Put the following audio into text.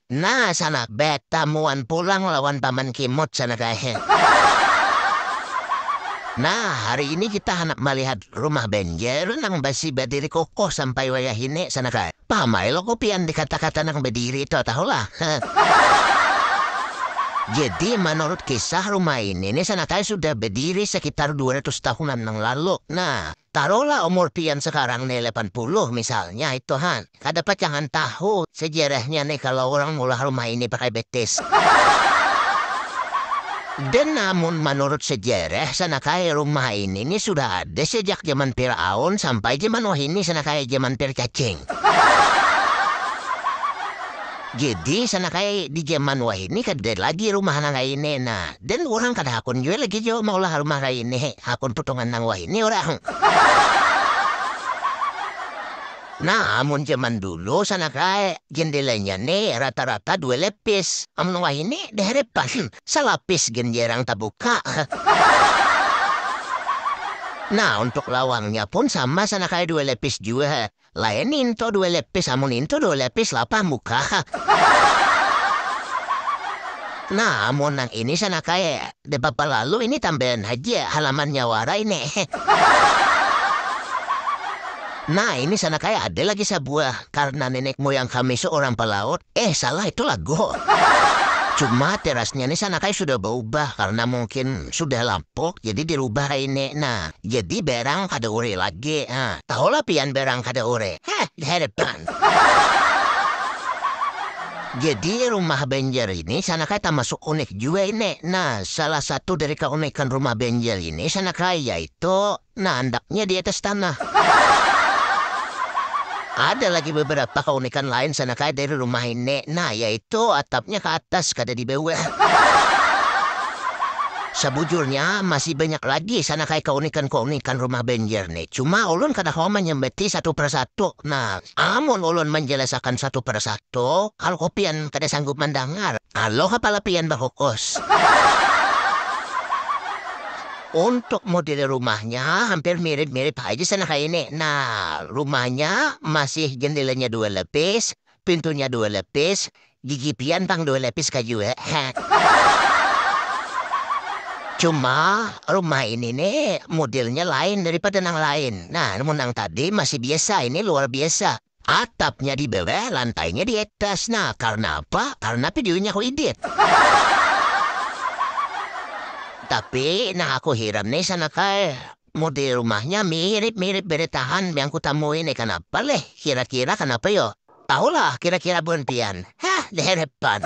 Nah sanak beta muan pulang lawan paman kimut sanak ae. Nah hari ini kita handak malihat rumah benjer nang basi badiri kukuh sampai wayah ini sanak ae. Paham ae lo ko pian di kata kata nang badiri to tahu lah. Jadi manurut kisah rumah ini ni sanak ae sudah badiri sekitar dua ratus tahunan nang lalu. Nah. Taruhlah umur pian sekarang nih lapan puluh misalnya itu han, kada pacangan tahu sejarahnya nih kalo urang meulah rumah ini pakai betis. Dan amun manurut sejarah sanakaya rumah ini nih sudah ada sejak jaman Firaun sampai jaman wahini sanakaya jaman pir cacing. Jadi sanakaya di jaman wahini kada lagi rumah nang kaya ini nah. Dan urang kada hakun jua lagi jo maulah rumah lain hehe hakun putungan nang wahini urang. Nah amun jaman dulu sanak ae jendelanya ne rata rata dua lapis amun wahini dehrepan salapis gen jarang tabuka. Nah untuk lawangnya pun sama sanak ae dua lapis jua Lain into dua lepis amun into dua lepis lapah muka ha. Nah amun nang ini sana kae de papa lalu ini tambayan haja halamannya wara ini he. Nah ini sana kae ada lagi sabuah karna nenek moyang kami seorang pelaut. Eh salah itu lagu. Cuma terasnya nih sana kayak sudah berubah karena mungkin sudah lapuk jadi dirubah raine nah jadi berang kada ure lagi ha tahu lah pian berang kada ure ha dihadapan. Jadi rumah Banjar ini sana kayak tamasuk unik jua ini nah salah satu dari keunikan rumah Banjar ini sana kayak yaitu. Nah andaknya di atas tanah. Ada lagi beberapa keunikan lain sana kaya dari rumah ini. Nah yaitu atapnya ke atas kada di bawah. Sabujurnya masih banyak lagi sana kaya keunikan-keunikan rumah Banjar nih. Cuma ulun kada kawa manyambati satu persatu. Nah amun ulun manjalasakan satu persatu kaluku pian kada sanggup mandangar. Aloh kepala pian bakukus. Untuk model rumahnya hampir mirip-mirip haja sana kaya ini. Nah, rumahnya masih jendelanya dua lapis, pintunya dua lapis, gigi pian pang dua lapis ka jua. Cuma rumah ini ni modelnya lain daripada nang lain. Nah, mun nang tadi masih biasa, ini luar biasa. Atapnya di bawah, lantainya di atas. Nah, karena apa? Karena videonya aku edit. Tapi, nah aku hiram nih sana kai. Model rumahnya mirip-mirip beretahan yang kutamui nih. Kenapa leh? Kira-kira kenapa yo? Tahulah kira-kira bun pian. Hah, di hadapan.